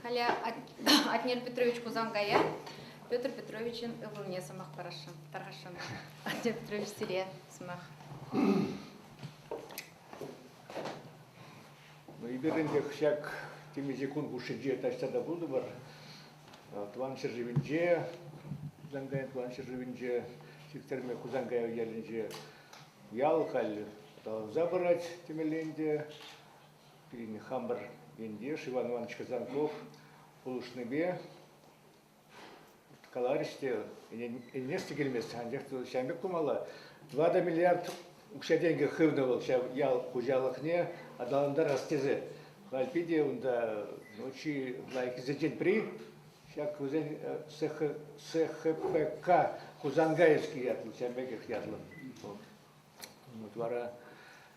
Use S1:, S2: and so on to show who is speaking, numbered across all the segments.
S1: Халӗ Атнер Петрович Хусанкая Петр Петровичӑн ывӑлне сӑмах парасшӑн, тархасшӑн. Атнер Петрович сире сӑмах.
S2: Ну, эпир ӗнтӗ ҫак темиҫе кун хушшинче таҫта та пултӑмӑр. Тӑван ҫӗршывӗнче, Хусанкайӑн тӑван ҫӗршывӗнче, Сиктерме Хусанкая ялӗнче ял халь аталанса пырать темелле ӗнтӗ. пирӗн хамӑр ентеш Иван Иванович Казанков пулӑшнипе каларӗҫ те ӗнес те килмест, анчах ҫавӑн пек тумалла. Тӑватӑ миллиард укҫа-тенкӗ хывнӑ вӑл ҫав ял хуҫалӑхне аталантарас тесе. Халь питӗ унта ну, чи лайӑххисенчен пӗри ҫак вӗсен СХПК Хусанкайский ятлӑ, ҫавӑн пекех ятлӑ. Вот вара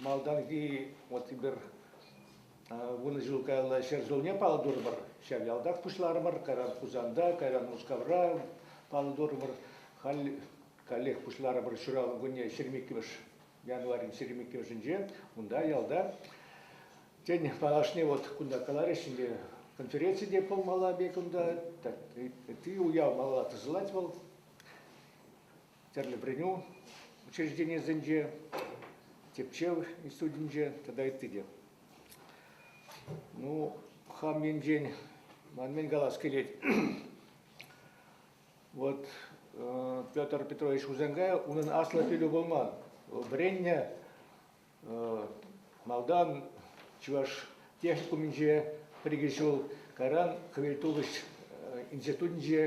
S2: Малтанхи вот эпир вунӑ ҫул каялла ҫӗр ҫулне паллӑ турӑмӑр. Ҫав ялтах пуҫларӑмӑр. Кайран Хусанта, кайран Мускавра паллӑ турӑмӑр. Халь каллех пуҫларӑмӑр ҫуралнӑ кунне 22 январьӗн 22-нче. Унта ялта тен малашне вот кунта каларӗҫ ӗнтӗ конференци те пулмалла пек унта. Ытти уяв малалла тӑсӑлать вӑл. тӗрлӗ вӗренӳ учрежденийӗсенче, тӗпчев институтӗнче тата ытти те. Ну, хам енчен ман мӗн калас килет. вот э, Петр Петрович Хузенгай унӑн аслӑ пӗлӳ пулман. Вӑл вӗреннӗ Малтан Чӑваш техникумӗнче пӗр-икӗ ҫул, кайран Хӗвелтухӑҫ институтӗнче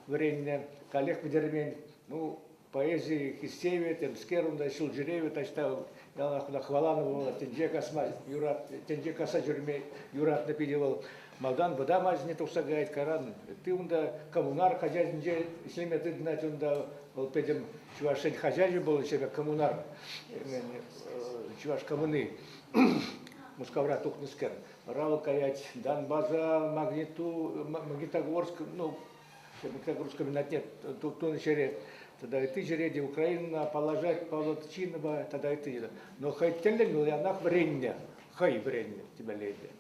S2: вӗреннӗ, каллех вӗтермен. Ну, поэзи хистевӗ, темскер унта ҫул ҫӳревӗ таҫта яланах хӑваланӑ вӑл, тӗнче касма юрат, тӗнче касса ҫӳреме юратнӑ питӗ вӑл. Малтан вӑтам ачине тухса каять каран. Ты унта коммунар хозяйствинче ӗҫлеме тытӑнать унта. Вӑл пӗтӗм чӑвашсен хозяйстви был себе коммунар, чӑваш коммуны. Мускавра тухнӑскер. Рава каять Донбаса, Магниту, Магнитогорск, ну, Магнитогорского минат нет, тунӑ ҫӗре. Тогда и ты ҫӗре те Украина положать Павловчинова, тогда и ты. Но хай тӗллӗн вӑл янах вӗреннӗ, хай вӗреннӗ тебя леди.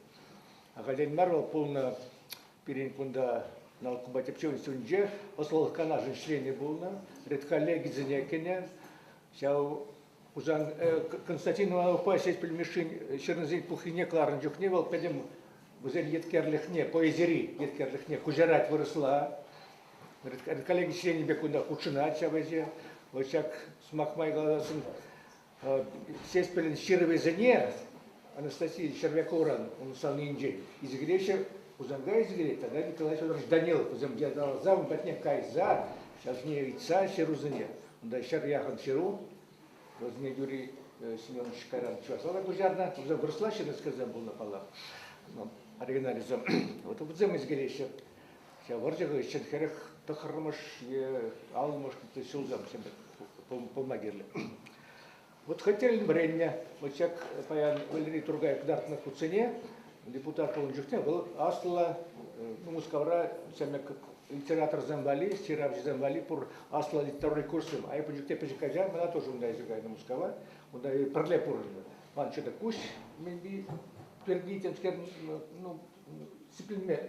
S2: Ахальтен мар вӑл пулнӑ пирӗн кунта наукӑпа тӗпчев институтӗнче ӑслӑлӑх канашӗн членӗ пулнӑ, редколлегисене кӗнӗ. Ҫав Хусан Константиновпа ҫеҫ пӗлмешшин ҫырнисен пуххине кӑларнӑ чухне вӑл пӗтӗм вӗсен еткерлӗхне, поэзири еткерлӗхне куҫарать вырӑсла. Коллеги членӗ пек кунта хутшӑнать ҫав ӗҫе. Вӑл ҫак сӑмах май каласшӑн Сеспелӗн ҫырӑвӗсене Анастасия Червяковран унсаннинчен изгилеҫҫӗ, Хусанта изгилет, тогда Николай Федорович Данилов, вӗсем яталаса ун патне кайса, ҫавсене ыйтса ҫырусене, унта ҫӗр яхӑн ҫыру, вӗсене Юрий Семенович кайран чӑвашла та куҫарнӑ, вӗсем вырӑсла ҫырнӑскерсем пулнӑ паллах, оригиналӗсем. Вот вӗсем изгилеҫҫӗ. Ҫав вӑрҫӑ хыҫҫӑн хӗрӗх тӑххӑрмӗш е аллӑмӗш ҫулсем пулма кирлӗ. Вот хотель вӗреннӗ, вот ҫак паян Валерий Тургай кӑтартнӑ хутсене депутат пулнӑ чухне вӑл аслӑ Мускавра литераторсем валли, ҫыравҫӑсем валли пур аслӑ литературный курсым. А эпӗ чухне пӗчӗк ача, мана тоже унта еще кайнӑ Мускава, унта пӗрле пурӑннӑ. Ман что-то куҫ, maybe, пирки, ну,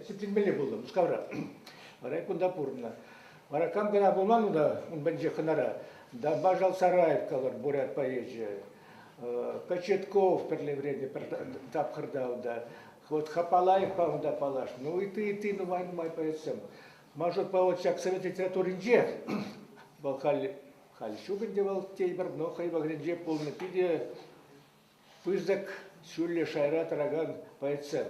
S2: сипленмелле пулнӑ Мускавра. Вара кунта пурӑннӑ. Вара кам кӑна пулман унта, ун пӗнче хӑнара. Дамбажал сараев калӑр Бурят поэчӗ. Кочетков пӗрле вӗреннӗ пӗр тапхӑрта унта. Вот Хапалаевпа унта паллаш. Ну и ты, и ты, нумай, нумай поэтсем. Может, по вот ҫак совет литературинче вӑл халь, халь ҫук ӗнтӗ вӑл тейпӗр, но хӑй вӑхӑтӗнче пулнӑ питӗ Пысӑк ҫӳллӗ шайра тӑракан поэтсем.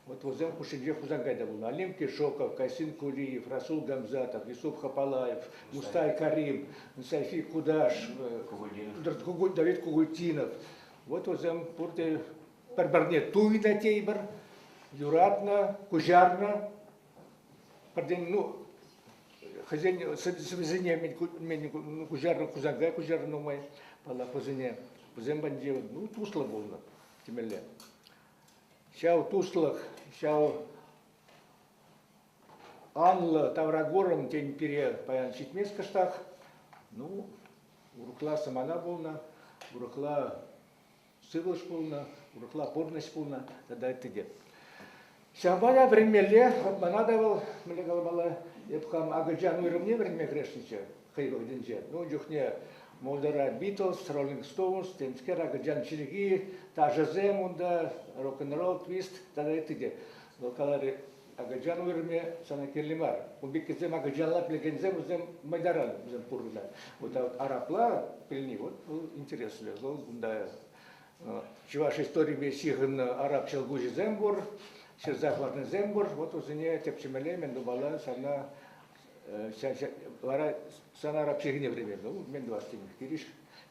S2: Вот вӗсем хушшинче Хусанкай та пулнӑ. Олимпий Шоков, Касим Кулиев, Расул Гамзатов, Юсуф Хапалаев, Мустай Карим, Сафи Кудаш, Давид Кугультинов. Вот вӗсем пурте пӗр-пӗрне туйнӑ тейпӗр, юратнӑ, куҫарнӑ. пӗртен ну хӑйсен сӗвӗсене мӗн куҫарнӑ кусака куҫарнӑ нумай паллапӑсене вӗсем патӗнче ну туслӑ пулнӑ темелле ҫав туслӑх ҫав анлӑ тавракурӑм тен пире паян ҫитмест кӑштах ну урӑхла самана пулнӑ урӑхла сывлӑш пулнӑ, урӑхла пурнӑҫ пулнӑ тата ытти те. Ҫавӑнпа вӗренмелле, мана та вӑл, мӗнле каламалла, эп хам акӑлчан уйрӑмне вӗренме кӗресшӗнччӗ хӑй вӑхӑтӗнче. Ну, ун чухне Молдора Битлз, Роллинг Стоунс, темскер акӑлчан чӗлхи, ташӑсем унта, рок-н-ролл, твист тата ытти те. Вӑл каларӗ, акӑлчан вырӑнӗ сана кирли мар. Узбекисем акӑлчанла пӗлекенсем вӗсем мӑйдаран вӗсем пурӑнать. Вот а вот арабла пӗлни вот был интересно. Вӑл кунта чӑваш историпе ҫыхӑннӑ араб ҫӑлкуҫӗсем пур, ҫырса хӑварнисем пур. Вот вӗсене тӗпчемелле мӗн тумалла сана вара сан араб чӗлхине вӗренмелле. Мен du hast nicht Girisch,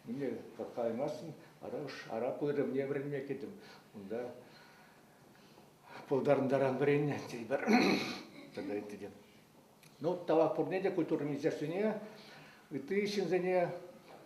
S2: нине калаймастӑн, вара уж араб вырӑнне вӗренме кӗтӗм. Унта пултарӑнтаран вӗреннӗ тетпӗр тата ытти те. Ну, тава пурне те культура министерствине, ытти ҫынсене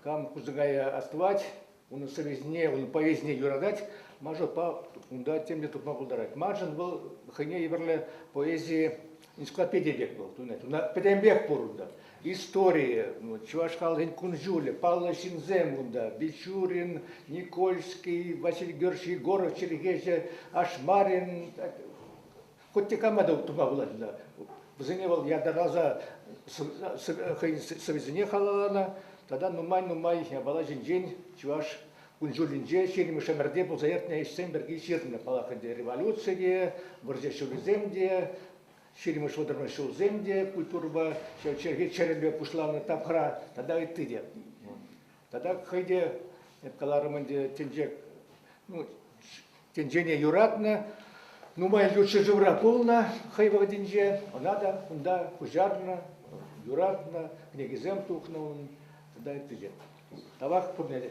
S2: кам кусӑкая астӑвать, унӑн совестьне, унӑн повестьне юратать, мажорпа унта тем те тупма пултарать. Маншӑн вӑл хӑйне евӗрлӗ поэзи энциклопедия пек вӑл. Тунать. Уна пӗтӗмпех пур унта. историйӗ, чӑваш халӑхӗн кун-ҫулӗ, паллӑ ҫынсем унта. Бичурин, Никольский, Василий Георгиевич Егоров чӗлхеҫӗ, Ашмарин, хоть те кама та тума пулать Вӗсене вӑл ятарласа хӑйӗн сӑвӗсене халалланӑ. Тата нумай-нумай япала ҫинчен чӑваш кун-ҫулӗнче ҫирӗм ӗмӗрте пулса иртнӗ ӗҫсем пирки ҫырнӑ. Паллах ӗнтӗ революци те, вӑрҫӑ ҫулӗсем те, ҫирӗммӗш вӑтӑрмӗш ҫулсем те культурӑпа чӗлхе чӗрӗмпе пуҫланӑ тапхӑра тата ытти те. Тата хӑй те, эп каларӑм ӗнтӗ, тӗнче ну, тӗнчене юратнӑ, нумай ют ҫӗршывра пулнӑ хӑй вӑхӑтӗнче, ӑна та унта пуҫарнӑ, юратнӑ, кӗнекесем тухнӑ унӑн тата ытти те. Тавах пурне те.